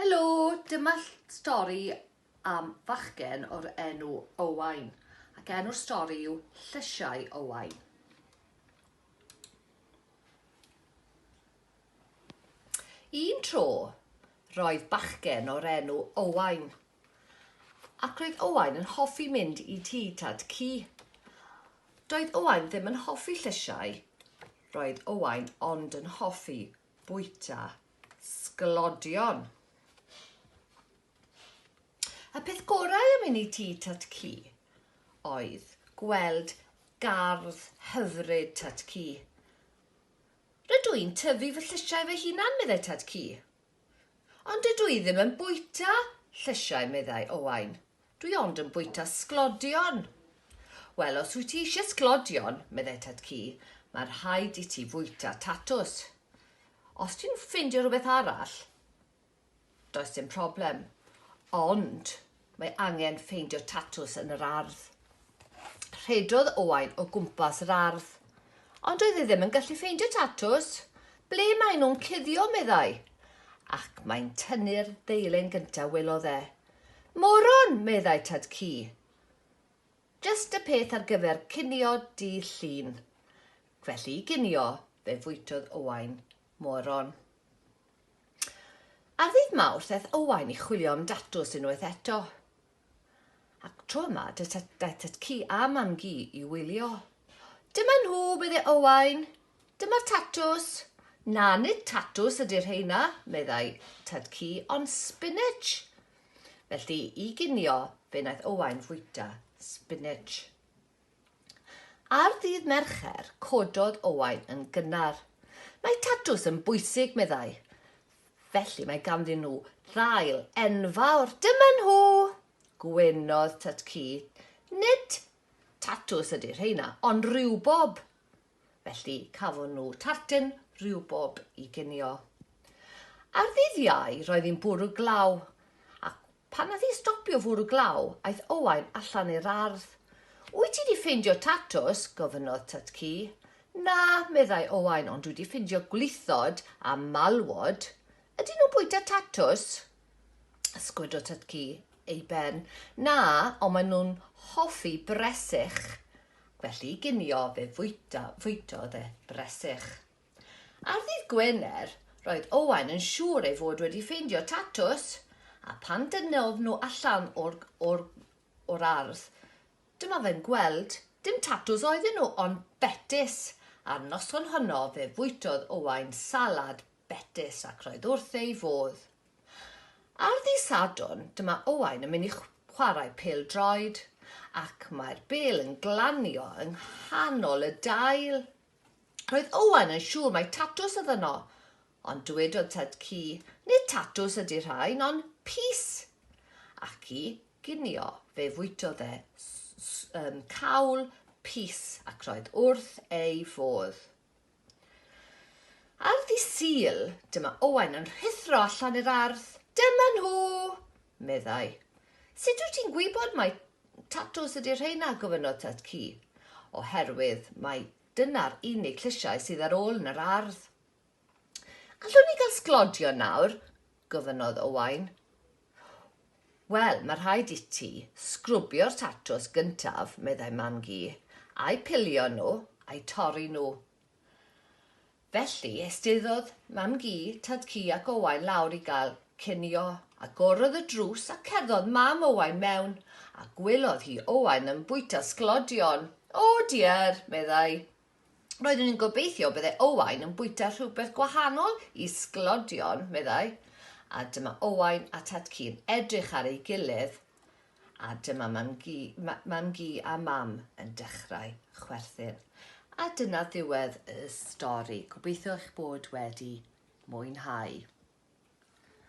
Helo! Dyma stori am fachgen o'r enw Owain, ac enw'r stori yw Llysiau Owain. Un tro, roedd bachgen o'r enw Owain, ac roedd Owain yn hoffi mynd i tŷ tad cu. Doedd Owain ddim yn hoffi llysiau, roedd Owain ond yn hoffi bwyta sglodion. Y peth gorau am inni ti tat ci oedd gweld gardd hyfryd tat ci. Rydw i'n tyfu fy llysiau fy hunan, meddai tad ci. Ond dydw i ddim yn bwyta llysiau, meddai Owain. Dwi ond yn bwyta sglodion! Wel, os wyt ti eisiau sglodion, meddai tad cu, mae rhaid i ti fwyta tatws. Os ti'n ffeindio rhywbeth arall, does dim problem. Ond mae angen ffeindio tatws yn yr ardd. Rhedodd Owain o gwmpas yr ardd. Ond oedd e ddim yn gallu ffeindio tatws. Ble maen nhw'n cuddio, meddai. Ac mae'n tynnu'r ddeilen gyntaf, welodd e. Moron! meddai Tad Cu. Jyst y peth ar gyfer cinio dydd Llun. Felly i ginio, fe fwytodd Owain moron. Ar ddydd Mawrth aeth Owain i chwilio am datws unwaith eto. Ac tro yma, daeth Tad Cu a Mam Gu i wylio. Dyma nhw, meddai Owain, Dyma'r tatws! Na, nid tatws ydy'r rheina, meddai Tad Cu, ond spinach! Felly, i ginio, fe wnaeth Owain fwyta spinach. Ar ddydd Mercher, cododd Owain yn gynnar. Mae tatws yn bwysig, meddai. Felly mae ganddyn nhw ddail enfawr. Dyma nhw! Gwenodd Tad Cu. Nid tatws ydy'r rheina, ond rhywbob! felly cafon nhw tarten riwbob i ginio. Ar ddydd Iau roedd hi'n bwrw glaw, ac pan nath hi stopio fwrw glaw, aeth Owain allan i'r ardd. Wyt ti di ffeindio tatws? gofynnodd Tut Ci. Na, meddai Owain, ond dwi di ffeindio gwlithod a malwod. Ydyn nhw'n bwyta tatws? sgwid o tytci ei ben. Na, ond maen nhw'n hoffi bresych, felly ginio fe fwyta, fwytodd e bresych. Ar ddydd Gwener, roedd Owain yn siŵr ei fod wedi ffeindio tatws, a pan dynnodd nhw allan o'r, or, or ardd, dyma fe'n gweld, dim tatws oedden nhw, ond betys. A'r noson honno fe fwytodd Owain salad Betys, ac roedd wrth ei fodd. Ar ddydd Sadwrn, dyma Owain yn mynd i chwarae pêl-droed, ac mae'r bêl yn glanio yng nghanol y dail. Roedd Owain yn siŵr mai tatws oedd yno, ond dywedodd tad cu, nid tatws ydy rhain, ond pys! Ac i ginio fe fwytodd e um, cawl pys ac roedd wrth ei fodd. Ar ddydd Sul, dyma Owain yn rhuthro allan i'r ardd. Dyma nhw! meddai. Sut wyt ti'n gwybod mai tatws ydy rheina? gofynnodd Tad-cu. Oherwydd mai dyna'r unig llysiau sydd ar ôl yn yr ardd. Allwn ni gael sglodion nawr? gofynnodd Owain. Wel, mae rhaid i ti sgrwbio'r tatws gyntaf, meddai Mam-gu, a'u pilio nhw, a'u torri nhw. Felly, estyddodd Mam-gu, Tad-cu ac Owain lawr i gael cinio. Agorodd y drws a cerddodd Mam Owain mewn, a gwelodd hi Owain yn bwyta sglodion. O, diar, meddai. Roeddwn i'n gobeithio bydde Owain yn bwyta rhywbeth gwahanol i sglodion, meddai. A dyma Owain a Tad-cu yn edrych ar ei gilydd, a dyma Mam-gu, ma, Mam-gu a Mam yn dechrau chwerthin. A dyna ddiwedd y stori. Gobeithio eich bod wedi mwynhau.